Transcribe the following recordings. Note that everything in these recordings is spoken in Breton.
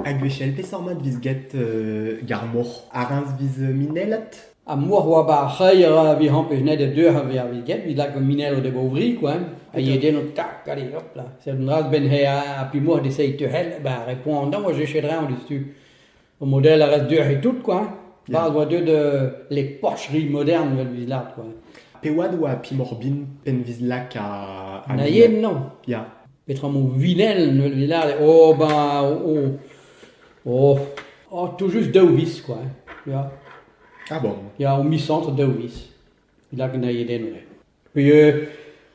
Ha gwechall peseurt mat 'vez get ar mor? Ar-eñv 'vez minellet? Ar mor 'oa 'ba ar c'hreier a vez ampez net e deuc'h a vez get, 'vit lak an minello da bovri koa, a yee den o tak, allez hop là, seurt un dra 'z benn he ha pi mor d'eseiñ tec'hel, bah ar re poan-dañ 'oa cheñchet 'dreñv diouzhtu. O model a rez deoc'h tout quoi. Barzh oa deuet les Porscheries modernes 'vel 'vit lâret quoi. Pe oad oa Pim Orbin penn 'vit lak a... a Na yen non. Ya. Petra emañ Vinel 'vel 'vit lâret. Oh ben oh oh oh tout juste daou vis quoi. Ya. Ah bon? Ya o miz c'hantr daou vis. 'Vit lak na yen eno eo. Puis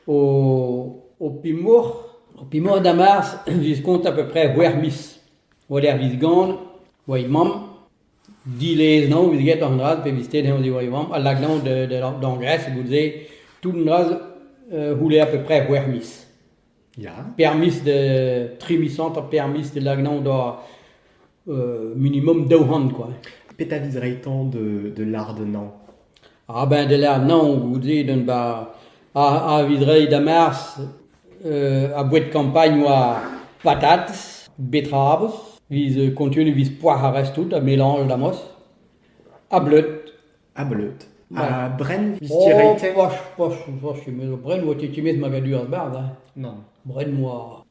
ho pimour, ho pimour da Mars viz kont a peu près c'hwec'h miz. War-lerc'h viz Gant oa he mamm. Dilez eo vit get an dra-se pe vit stet eñ diwar he vamm a lak dezhañ d'an Gres goude-se. Tout an dra-se c'houlle a peu près c'hwec'h miz. Ya. Per miz, tri miz hanter per miz da lak dezhañ da minimum daou c'hant kwa. Petra viz reiñ-tañ de, de lardennañ? Ah ben de lardennañ goude d'un ba a, a viz reiñ da mars a boued kampagn oa patates, betrabos, viz kontunu viz poac'h ar rest tout, ha melange da mos, ha bleud. Ha bleud. Ha brenn viz ti reiñ-tañ? Oh, poch, poch, poch, met brenn oa ti timez magadur ar barz, hein. Nann. Brenn oa...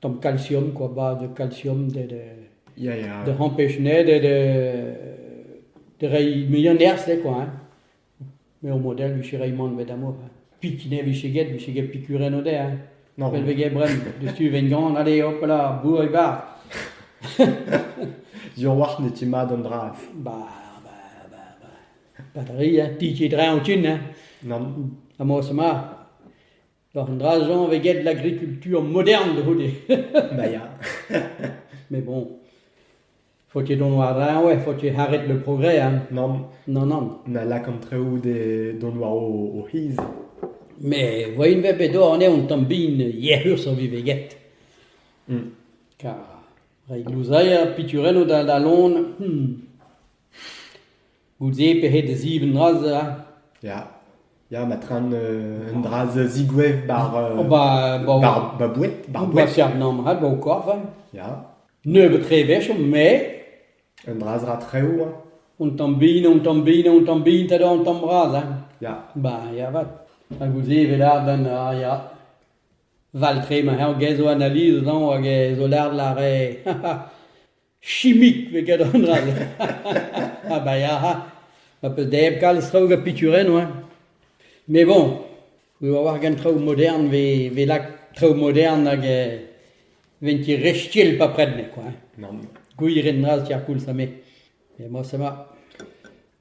tamm kalsium kwa ba de kalsium de de Ya, ya. de empêche ne de de de reiñ muiañ nerzh eo kwa hein. Me o model vije reiñ mann bet amour hein. Pikine vije get vije get pikurenn o de hein. Non. Pell vez get bren diouzhtu ven gant allez hop là bourre bar. Diorwac'h ne ti mat an dra. Ba ba ba ba pa da ri hein ti ti dreñ o tin hein. Non. Ha mo se ma War an dra-jañ e vez graet l'agriculture moderne da-c'houde. Ba ya. Mais bon, faut ket dont war-dreñv eo, faut ket arrêt le progrès hein. Nann, Non, nann. na lak an traoù de dont war o, o c'hiz. Mais voain vet bet oc'h anezho un tamm bin yec'hus a vez get. Mm. Kar reiñ louzailher, piturennoù da da lon. hmm. Goude pec'hed da ziv dra-se a. Ya, ya, ma traen euh, un dra a zigouez bar, euh, Oh, ba, ba, bar, ba boued, bar ba boued. Fernand Mrat, ba o korf. hein. Ya, Nebeut tre wech, mais un dra a ra treo, hein. on tamm bin, on tamm bin, on tamm bin, ta on tamm bras. Hein. Ya, Ba, ya vat. Ha goude evel arden, ah, ya. Val tre ma her gae zo analyse dan hag e zo lard la re. chimik pe gadarn all ha ba ya ma peus da hep kalz traoù gant piturennoù hein mais bon eo a-walc'h gant traoù modern 'vez lak traoù modern hag ven ket re still bepred met quoi hein gwir int bras ker koulz ha me emañ c'est ma